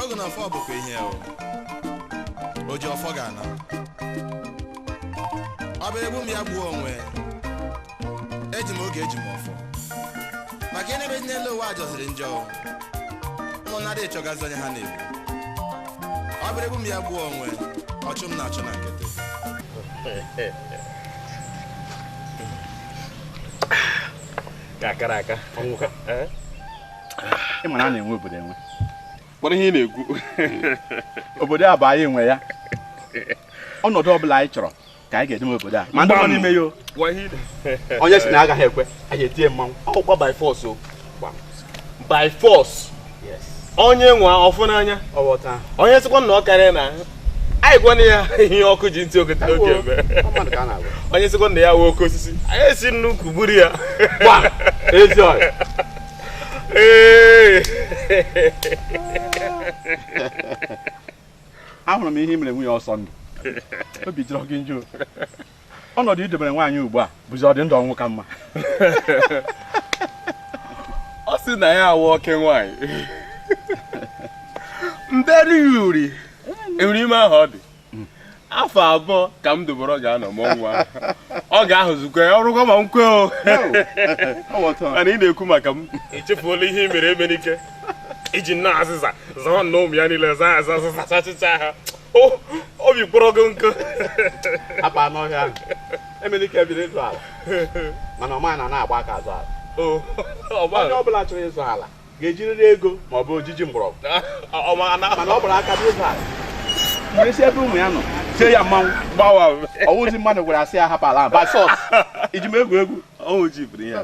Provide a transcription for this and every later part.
ogu na ọfọ bụkwa ihe o oji ọfọ ga-ana ọ bịara egbu m ya gbuo onwe eji m ogu eji m ọfọ maka na ebe dị n'elu ụwa jọziri njọ o. ụmụnnadị chọgazi onye ha na-egbu ọ bịara egbu m ya gbuo onwe ọchụ m na-achụ na nkịtị ka akara aka eh? ị ma na a na-enwe obodo enwe kpọrọ ihe ị na-ekwu obodo a bụ anyị nwe ya ọnọdụ ọ bụla anyị chọrọ ka anyị ga-edeme obodo a ma ndị nọ n'ime ya onye sị na agaghị ekwe anyị etie ya mmanwụ ọkwa by force o by force onye nwaa ọ fụ n'anya onye sịkwa na ọ karịana anyị gwana ya ihe ọkụ ji ntị oke eme onye sịkwa na ya wụ oke osisi anyị esi n'ukwu gburu ya ahụrụ m ihe i mere nwunye osondu obi jọrọ gị njọ ọnọdụ i debere nwaanyị ugbu a bụzi ọdị ndụ ọnwụ ka mma ọ sị na ya wụ oke nwaanyị mberi ya uri enwere ime ahụ ọ dị afọ abụọ ka m doboro ga-anọ m ọnwa ọ ga-ahụzukwa ya ọrụkwa ma m kwe o mana ị na-ekwu maka m echefuola ihe i mere emenike i ji nna azịza zaa ya na ụmụ ya niile zaa aza azịza zachịcha ha obi kpọrọ gị nkụ akpa n'ọhịa ahụ emenike bịara ịzọ ala mana ọ maghị na a naghị agba aka azọ ala onye ọ bụla chọrọ ịzọ ala ga-ejirịrị ego ma ọ bụ ojiji mgbọrọgwụ mana ọ gbara aka n'ịzọ ala m wee si ebe ụmụ ya nọ tie ya mmanwụ gbawa ọ wụzi mmadụ gwara asị ya hapụ ala gbaa ọsọ i ji m egwu egwu ọnwụ ji biri ya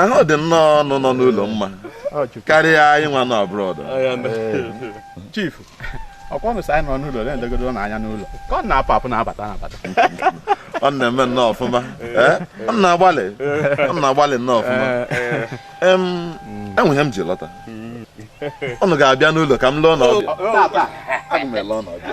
ahụ dị nnọọ unu nọ n'ụlọ mma karịa anyị nwa nọ abroad chief ọkwa unu sị anyị nọ n'ụlọ na-elegodo na anya n'ụlọ ka ọ na-apụ apụ na-abata na-abata ọ na-eme nnọọ ọfụma eh? ọ na-agbalị ọ na-agbalị nnọọ ọfụma enwere ihe m ji lọta unu ga-abịa n'ụlọ ka m lee unu ọbịa aga m ele unu ọbịa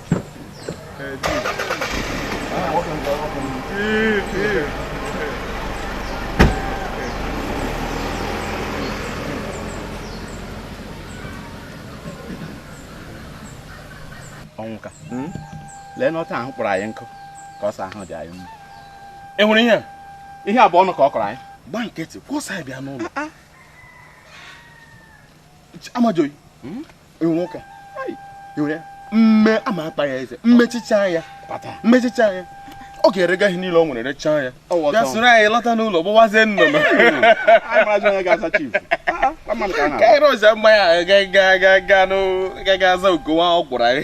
ọnwụka hmm? lee nụ otu ahụ kpọrọ anyị nkụ ka ọ sị ahụ dị anyị mma ị hụrụ ihe a ihe a bụ ọnụ ka ọ kọrọ anyị gba nkịtị ọ sị anyị bịa n'ụlọ ah, ah. amajuoyi hmm? mme ama akpa ya eze m mechichaa ya m mechichaa ya ọ ga-erega ihe niile o nwere rechaa ya ya soro anyị lọta n'ụlọ gbawazie nnụnụ ka anyị rụzi mmanya ga-aga aza ugowa ọ gwụrụ anyị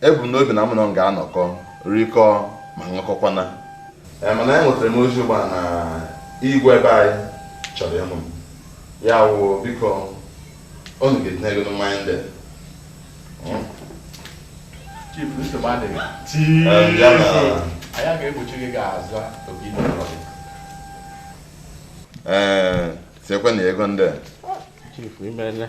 ebu m n'obi na mụ na unu ga-anọkọ rikọọ ma ṅụkọkwana ee mana enwetara m ozi ugbu a na igwe be anyị chọrọ ịhụ m ya wụ biko unu ga-etinye ego na mmanya ndị Chief, nsogbu adịghị. Ee, bịa na- Anyị ga-egbochi gị ga-azụ oge ị nọrọ gị. ee tinyekwanụ ego ndị a. Chief, imele.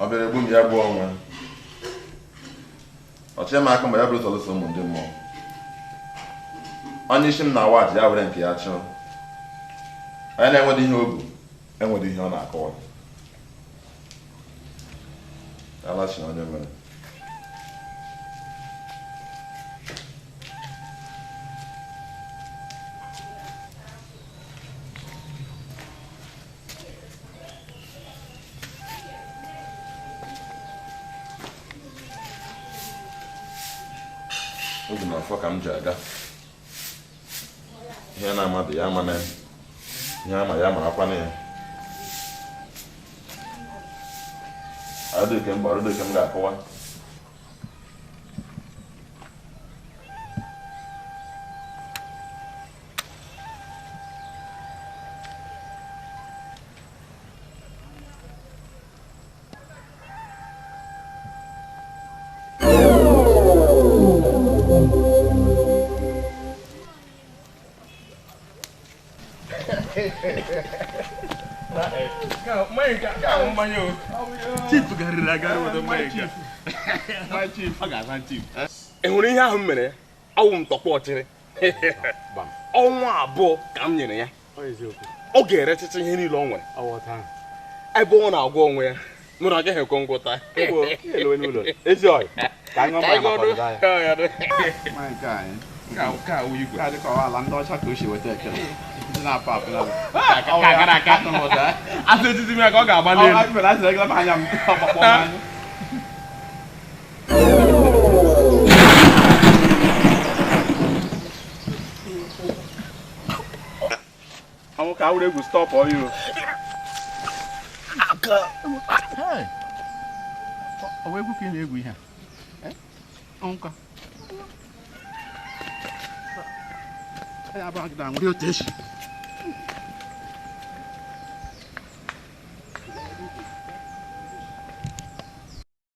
ọ bịara egbu m ya gbuo onwe ya o chee m aka mgba ya bụrụ sọlụsọ ụmụ ndị mmụọ onye isi m na-awa aja ya were nke ya chụọ onye na-enweghị ihe o bu enwere ihe ọ na-akọwa alachi onye mere ọ dị m n'afọ ka m ji aga ihe na-amadụ ya amana ya ihe ama ya marakwana ya adịghị m gbara dịka m ga-akọwa chief garịrị agarị weta mmanya nke a. ọ ga-aza chief ị hụrụ ihe ahụ m mere ya ọ wụ m tọkwa ọchịrị ọnwa abụọ ka m nyere ya ọ ga-erechacha ihe niile o nwere ebe ọ na-agwa onwe ya mụ na agaghị ekwe ngwụta asịtiti m ya ka ọ ga-agba n'elu ọ wụ ka ọ wụrụ egwu stọpụ ọyụ ọ wụ egwu ka ị na-egwu ihe a ọnka ya abụọ gị na-anwụ dị otu echi